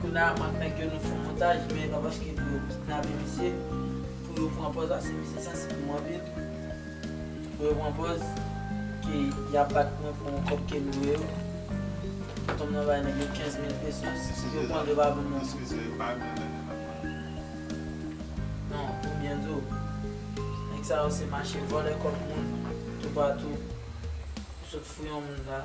Kounye a ant nèg yo nou fon montaj men pa paske pou yo kidnape misye pou yo pran pòz la se misye sansib pou mwen anpil pou yo pran pòz ke yap bat mwen pou yon kòb kem dwe yo tontonm nan bay nèg yo 15 mil pesos yo pranl yo pa banm nan non pou byen diw nèg sa yo se mache vòlè kòb moun toupatou ou sot fou yon moun la.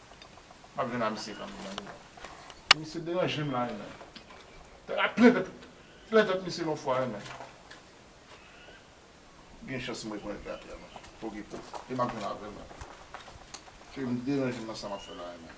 Map jwenn a misye kanmenm nan mezanmi. Misye deranjem la renmen. Te ka plen tèt plen tèt misye yon fwa renmen. Gen chans m rekonèt li atè non. Pou ki pou. E map jwenn avèl renmen. Kèm deranjem nan sa map fè la renmen.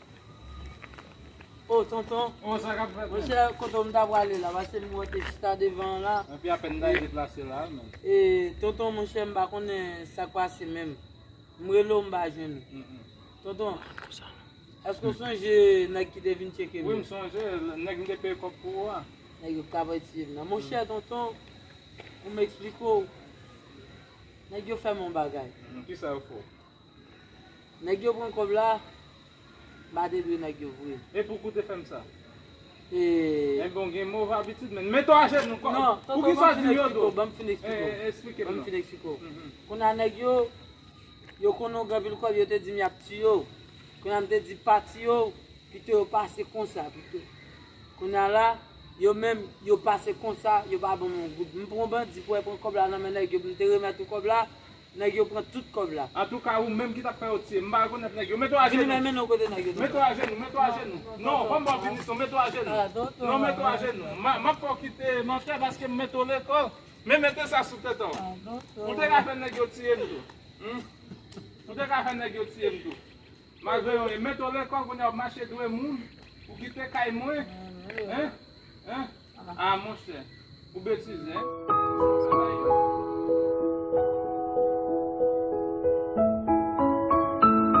Oh tonton, monchè kote m ta prale la pase m monte chita devan an la. Epi apèn m ta deplase la a menm. E tonton monchè m pa konnen sa k pase menm. M rele w m pa jwenn ou. Tonton, èske w sonje nèg ki te vin tcheke m yo? Wi m sonje, nèg m te peye kòb pou ou a. Nèg yo pa vle tiye m nan. Monchè tonton, pou m eksplike w, nèg yo fè m yon bagay. Kisa yo fè w? Nèg yo pran kòb la, ba te dwe nèg yo vre. E pouki w te fè m sa? E. Enben w gen move abitid menn. Mete w ajenou kòb. Non, tonton banm fin eksplike w, banm fin eksplike w. E, eksplike m non. Banm fin eksplike w. Kounye a nèg yo, yo konnen w gen anpil kòb, yo te di m y ap tiye w. Kounye a m te di pa tiye w, pito yo pase konsa pito. Kounye a la, yo menm, yo pase konsa, yo pa ban m yon goud. M pran bandi pou al pran kòb la nan men nèg yo pou m te remèt ou kòb la. Nèg yo pran tout kòb la. Antouka ou menm ki tap fè yo tiye m pa rekonèt nèg yo mete w ajenou Vini men men non kote nèg yo mete w ajenou mete w ajenou non banm baw pinisyon mete w ajenou non mete w ajenou map fè w kite mantè paske m mete w lekòl men mete sa sou tèt anw ou te ka fè nèg yo tiye m tou ou te ka fè nèg yo tiye m tou. Malgre yon e mèt olè kò kounye a wap mache dwe moun ou kite kay mwen hein hein ah monchè ou betize hein.